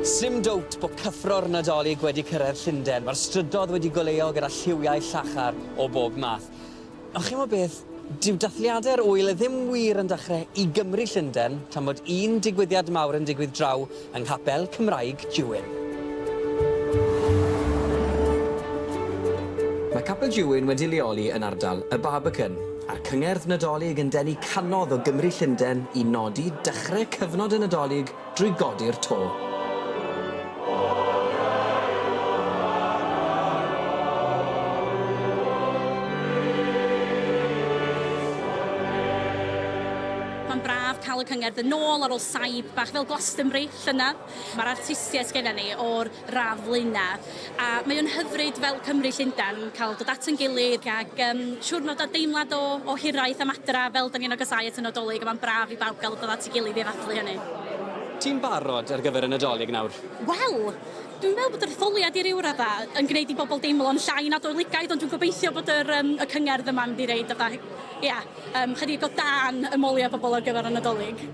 Sdim dowt bod cyffro'r Nadolig wedi cyrraedd Llundain, mae'r strydoedd wedi goleuo gyda lliwiau llachar o bob math. Ond chi'n gwybod beth, dyw dathliadau'r ŵyl ddim wir yn dechrau i Gymru, Llundain, tan bod un digwyddiad mawr yn digwydd draw yng Nghapel Cymraeg Jewin. Mae Capel Jewin wedi leoli yn ardal Y Barbican, a'r Cyngerdd Nadolig yn denu cannoedd o Gymry Llundain i nodi dechrau cyfnod y Nadolig drwy godi'r to. Mae'n braf cael y cyngerdd yn ôl ar ôl saib bach fel Glastonbury llynedd. Mae'r artistiaid sgenna ni o'r radd flaenau a mae o'n hyfryd fel Cymry Llundain cael dod at yn gilydd ac um, siwrnod a deimlad o, o hiraeth am adra fel da ni'n agosáu at y Nadolig a mae'n braf i bawb gael dod at ei gilydd i ddathlu hynny. Ti'n barod ar gyfer y Nadolig nawr? Wel, dwi'n meddwl bod yr etholiad i ryw radda yn gwneud i bobl deimlo'n llai Nadoligaidd, ond dwi'n gobeithio bod yr, um, y cyngerdd yma'n mynd i reid fatha, ia, Yym, chydig o dan ymoliau pobl ar gyfer y Nadolig.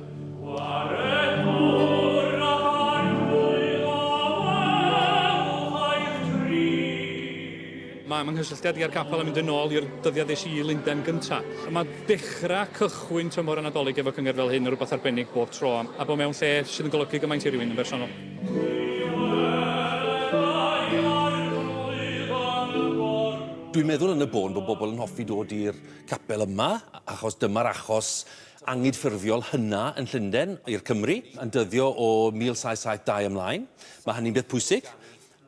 Mae 'y nghysylltiad i â'r capel yn mynd yn ôl i'r dyddiau ddes i i Lundain gynta'. Mae dechrau, cychwyn, tymor y Nadolig efo cyngerdd fel hyn yn rywbeth arbennig bob tro, a bod mewn lle sydd yn golygu gymaint i rywun yn bersonol. Dwi'n meddwl yn y bôn bod bobl yn hoffi dod i'r capel yma, achos dyma'r achos angydffurfiol hynna yn Llundain i'r Cymry, yn dyddio o 1772 ymlaen. Mae hynny'n beth pwysig.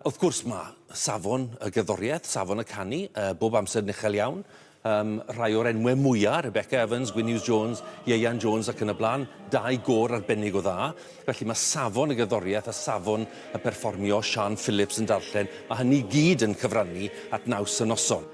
Wrth gwrs, mae safon y gerddoriaeth, safon y canu, uh, bob amser yn uchel iawn. Um, rhai o'r enwau mwyaf, Rebecca Evans, Gwynnews Jones, Ieuan Jones ac yn y blaen, dau gor arbennig o dda. Felly mae safon y gerddoriaeth a safon y perfformio Sian Phillips yn darllen, mae hynny gyd yn cyfrannu at naws y noson.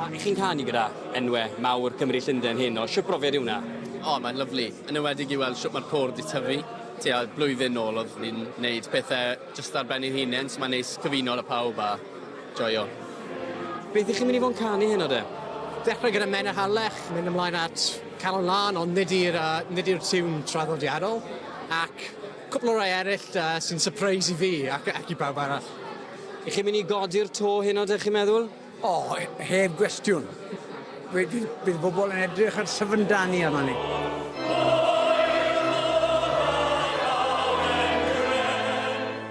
A ych chi'n canu gyda enwe mawr Cymru Llundain hyn oll? Shwt brofiad yw 'na? O, mae'n lyfli. Yn enwedig i weld shwt mae'r côr 'di tyfu. Tua blwyddyn nôl oedd ni'n neud pethe jyst ar ben ein hunen, so mae'n neis cyfuno 'da pawb a joio. Beth 'ych chi'n mynd i fod yn canu heno de? Dechrau gyda Men yr Harlech, mynd ymlaen at Calon Lân, ond nid i'r yy nid i'r tiwn traddodiadol, ac Cwpl o rai eraill sy'n sypreis i fi ac i bawb arall. Y'ch chi'n mynd i godi'r to heno dych chi'n meddwl? O, heb gwestiwn. Bydd bobl yn edrych ar syfrdanu arnon ni.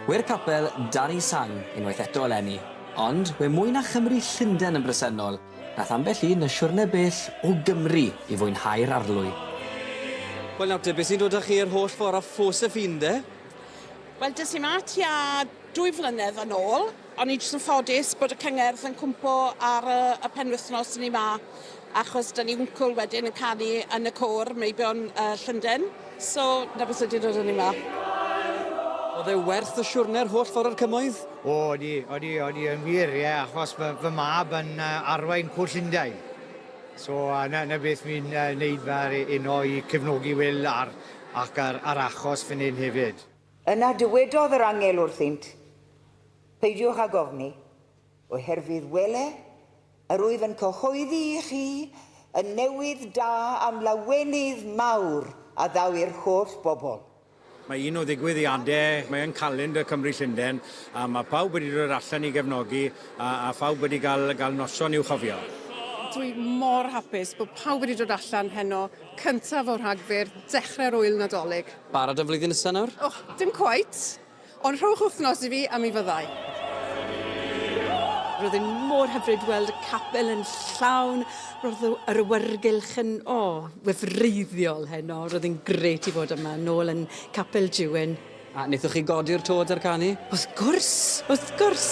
Gwir capel Danny Sang unwaith eto eleni, ond we mwy na Chymry Llunden yn bresennol, Nath ambell un y siwrne bell o Gymru i fwynhau'r arlwy. Wel nawr te, be sy'n dod â chi yr holl ffordd o Josephine de? Wel des i 'ma tua dwy flynedd yn ôl. O'n i jyst yn ffodus bod y cyngerdd yn cwmpo ar y y penwythnos o'n i 'ma achos 'da ni wncwl wedyn yn canu yn y côr meibion yy Llunden. So, na beth sydd wedi dod â ni 'ma. Oedd e werth y siwrne yr holl ffordd o'r Cymoedd? O, odi, odi, odi yn wir, ie, achos fy, fy mab yn uh, arwain Cwrt Llundain. So, uh, na, na beth fi'n uh, neud fa'r uno i cefnogi Wil ar, ac ar, ar achos fan hyn hefyd. Yna dywedodd yr angel wrthynt, Peidiwch â gofni, Oherwydd wele, yr wyf yn cyhoeddi i chi y newydd da am lawenydd mawr a ddaw i'r holl bobl. Mae un o ddigwyddiadau, mae yn calendr Cymru Llundain, a mae pawb wedi dod allan i gefnogi, a, a phawb wedi cael, cael noson i'w chofio. Dwi mor hapus bod pawb wedi dod allan heno, cyntaf o Rhagfyr, dechrau'r ŵyl Nadolig. Barod am flwyddyn nesa nawr? Och, dim cweit. Ond rhowch wythnos i fi a mi fyddai. Roedd e'n mor hyfryd weld y capel yn llawn. Roedd yr awyrgylch yn, o, wefreiddiol heno. Roedd e'n gret i fod yma, nôl yn Capel Jiwyn. A wnaethoch chi godi'r tôd a'r canu? Wrth gwrs, wrth gwrs!